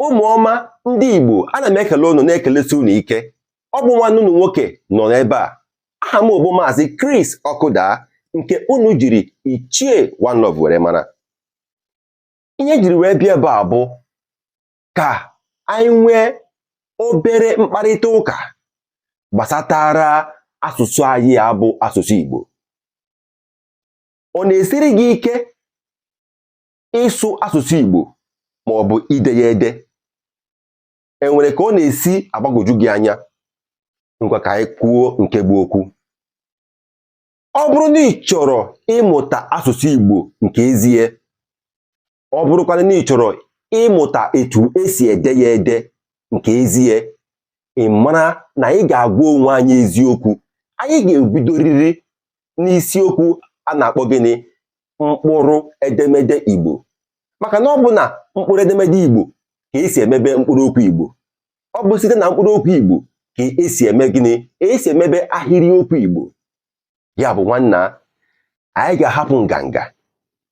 ụmụ ọma ndị Igbo ana m ekele unu na-ekelesi unu ike ọ bụ nwanne unu nwoke nọ n'ebe a aha m bụ maazị Chris Ọkụda nke unu jiri ichie One Love were mara ihe jiri wee bịa ebe a bụ ka anyị nwee obere mkparịta ụka gbasatara asụsụ anyị a bụ asụsụ Igbo ọ na-esiri gị ike ịsụ asụsụ Igbo ma ọ bụ ide ya ede enwere ka ọ na-esi agbagwoju gị anya ngwa ka anyị kwuo nke bụ okwu ọ bụrụ na ị chọrọ ịmụta asụsụ Igbo nke ezie ọ bụrụkwana na ị chọrọ ịmụta etu esi ede ya ede nke ezie ị mara na anyị ga-agwa onwe anyị eziokwu anyị ga-ebidoriri n'isiokwu a na-akpọ gịnị mkpụrụ edemede Igbo maka na ọ bụ na mkpụrụ edemede Igbo ka esi emebe mkpụrụ okwu Igbo ọ bụ site na mkpụrụ okwu Igbo ka esi eme gịnị esi emebe ahịrịokwu Igbo ya bụ nwanna anyị ga-ahapụ nganga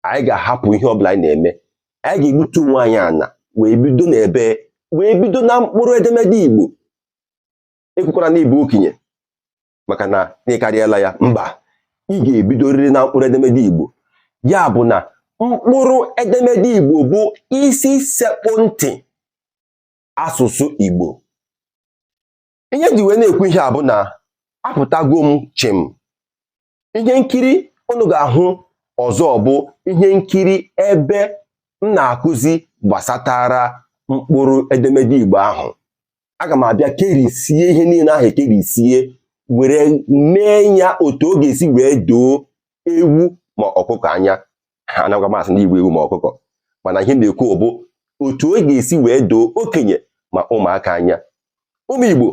anyị ga-ahapụ ihe ọbụla anyị na-eme anyị ga-egbutu onwe anyị ana wee bido n'ebe wee bido na mkpụrụ edemede Igbo ekwukwara na ị bụ okenye maka na ị karịala ya mba ị ga-ebidorịrị na mkpụrụ edemede Igbo ya bụ na mkpụrụ edemede Igbo bụ isi sekpụ ntị asụsụ Igbo ihe ji wee na-ekwu ihe a bụ na apụtago m chịm ihe nkiri unu ga-ahụ ọzọ bụ ihe nkiri ebe m na-akụzi gbasatara mkpụrụ edemede Igbo ahụ aga m abịa kerisie ihe niile ahụ ekerisie were mee ya otu ọ ga-esi wee doo ewu ma ọkụkọ anya anaghịkwa m asị ndị igbo ewu ma ọkụkọ mana ihe na-ekwu bụ otu ọ ga-esi wee doo okenye ma ụmụaka anya ụmụ igbo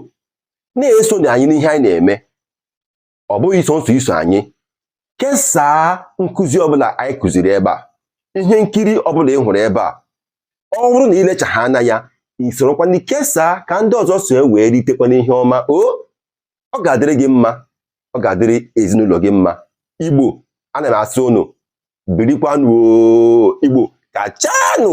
na-esonụ anyị n'ihe anyị na-eme ọ bụghị sọsọ iso anyị kesaa nkụzi ọbụla anyị kụziri ebe a ihe nkiri ọbụla ị hụrụ ebe a ọ bụrụ na i lechaa anya ya i sorokwanụ kesaa ka ndị ọzọ so wee ritekwa n'ihe ọma o ọ ga-adịrị gị mma ọ ga-adịrị ezinụlọ gị mma igbo ana m asị unu birikwanụ igbo kachanụ